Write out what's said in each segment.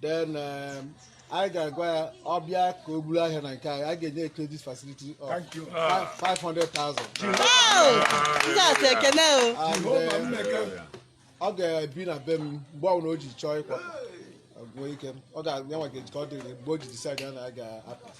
then um, anyị ga-agwa ya ọ bịa ka o buru ahịa na nke anyị a ga-enye credit facility of Thank you. fi- 500,000 Jizọs ekene o. and um, ọ ga-ebi na be m mgbe ọbụla o ji chọọ ịkwa ọgụọ ike ọ ga-enwe ga-eji ka ọ dịrị mgbe o ji decide na ya ga-apụ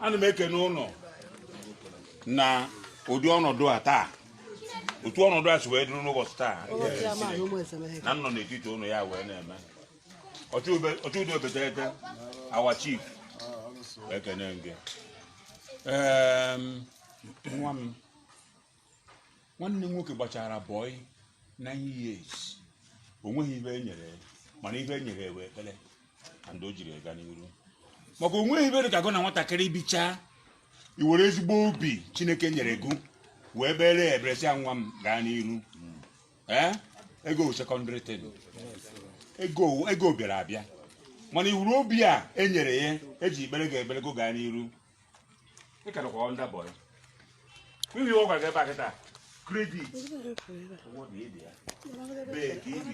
ana m ekene unu na ụdị ọnọdụ a taa otu ọnọdụ a si wee dịrị n'ụbọchị taa na m nọ n'etiti unu ya wee na-eme ọchụudo obetete our chief ekene m gị nwa m nwanne m nwoke gbachara boy nine years o nweghị ibe e nyere ya mana ibe e nyere ya wụ ekpere and o jiri ega n'iru maka o nweghị ibe dị ka gụ na nwatakịrị bichaa i were ezigbo obi chineke nyere gụ wee kpeere ya ekpere sị ya nwa m gaa n'iru ee ego secondary thing ego ego bịara abịa mana ị hụrụ obi a e nyere ya e ji kpeere gụ ekpere gụ gaa n'iru Ị ka nọkwa under boy. N'ihi ọ gwara gị ebe a kịta. Credit. Ụgwọ dị ịdị ya. Bee ka i bi.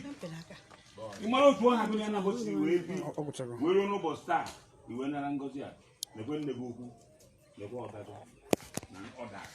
Ị mara otu ọ ha gụnye na ụbọchị wee bi. Ọ gwụchara. Wee ruo n'ụbọchị taa. I wee nara ngọzi a. Lekwe nne gị ukwu. Lekwe ọga gụ. Na others.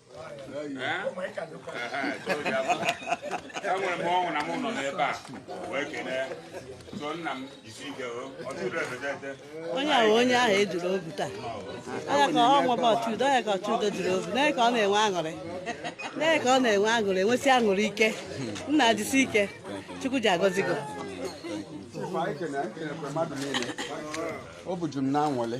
enwere m ọṅụ na m nọ n'ebe a wee kelee so nna m jisi ike onye ahụ onye ahụ ejiri obi taa anya ka ọ nwebe ọchụudo anya ka ọchụudo jiri obi na ka ọ na-enwe aṅụrị na ka ọ na-enwe aṅụrị enwesị aṅụrị ike nna jisi ike chukwu ji agọzi gị obi juru m na anwụlị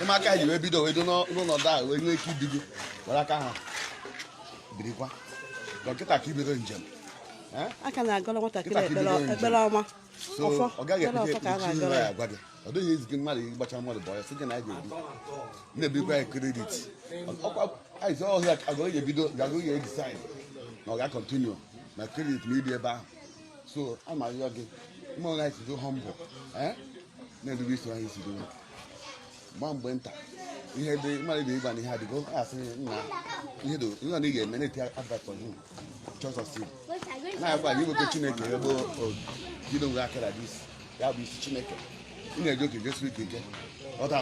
ụmụaka ji wee bido wee dụ n'ọnọdụ a wee nwee ike ibido were aka ha birikwa dọkịta ka ibido njem a ka na-agọrọ nwatakịrị ekpere ọma ọ gaghị ebute ya agwa gị ọ dịghị easy mmadụ ịgbacha mmadụ boy a sị gị na anyị ga-ebi na-ebikwa ya credit ọkwa ahịa agụghị ebido gagụghị ya decide na ọ ga-acontinue na credit na ibi ebe ahụ so a ma arịọ gị mma onye anyị si dị humble eh? na-edebe isi anyị si dị gba mgbe nta ihe dị mmadụ dị ịgba na ihe adịgo a sị nna ihe dị ihe ọ na ị ga-eme na-eti advert on him chọs ọsị na-agwa gị iwepụ chineke ebe bido nwe akara dị isi ya bụ isi chineke ị na-eji oke jisi ike ike ọta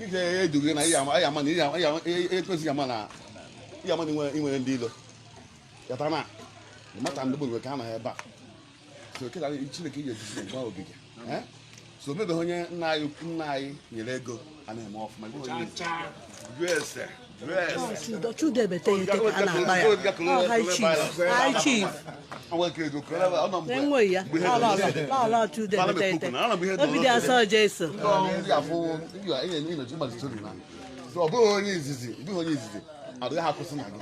ike edughị na ihe ama na ihe ekwesịghị ama na ihe ama na inwe inwe ndị ilo Kata na mata ndị bụ ka a nọ ebe a so kịta Chineke ji ejisi gwa obi gị eh? so mebeghị onye nna anyị nna anyị nyere ego a na-eme ọfụma chudebete ya ete ka a na-akpọ ya ọ high chief high chief enweghị ya ala chudebete ete obi dị asọ jesu ọ bụghị onye izizi ọ bụghị onye izizi adịghị akwụsị na gị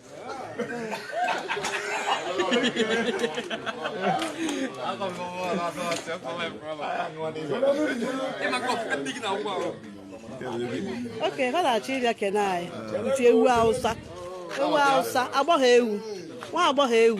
okay ha na-achọ ịbịa kene anyị iti ewu awụsa ewu awụsa agbọghọ ewu nwa agbọghọ ewu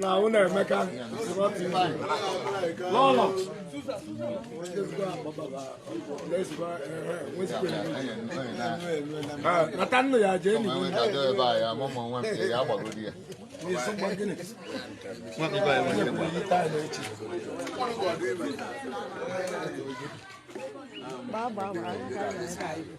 na ụlọ emeka lọlọ nata nnu ya jee n'ihu Bye bye.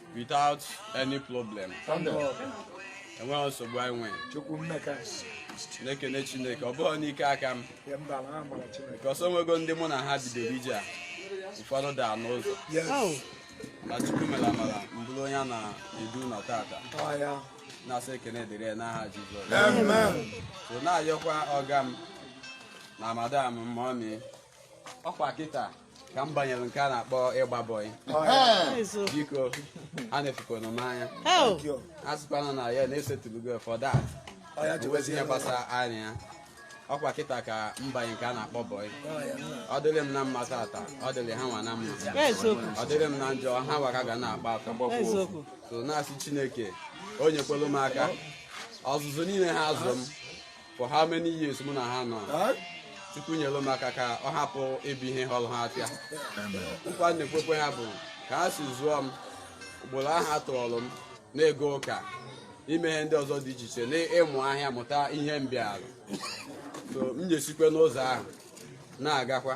without any problem enweghị nsogbu anyị nwere chukwu emeka na-ekene chineke ọ bụghị n'ike aka m because o nwego ndị mụ na ha bidoro ije a ụfọdụ daa n'ụzọ na chukwu mere amara m bụrụ onye a na-edu ụlọ tata na-asị ekene dịrị ya n'aha Jizọs so na-ayọkwa ọga m na madam mọmi ọkwa kịta ka m banyere nke a na-akpọ ịgba bọyị biko ha enefukwana m anya ha asịkwana na ya na-esetụlugo for that o nwezi ihe gbasara anyị na ya ọkwa kịta ka m banye nke a na-akpọ bọyị ọ dịrị m na mma tata ọ dịrị ha nwa na mma ọ dịrị m na njọ ha nwa ka ga na-akpa afọ so na-asị chineke o nyekwelu m aka ọzụzụ niile ha azụ m for how many years mụ na ha nọ chukwu nyelu m aka ka ọ hapụ ịbụ ihe ghọrọ ha ahịa nkwa m na-ekwekwe ha bụ ka ha si zụọ m ụkpụrụ ahụ ha tụọlụ m na ịga ụka ime ihe ndị ọzọ dị iche iche na ịmụ ahịa mụta ihe m bịalụ so m ya-esikwe n'ụzọ ahụ na-agakwa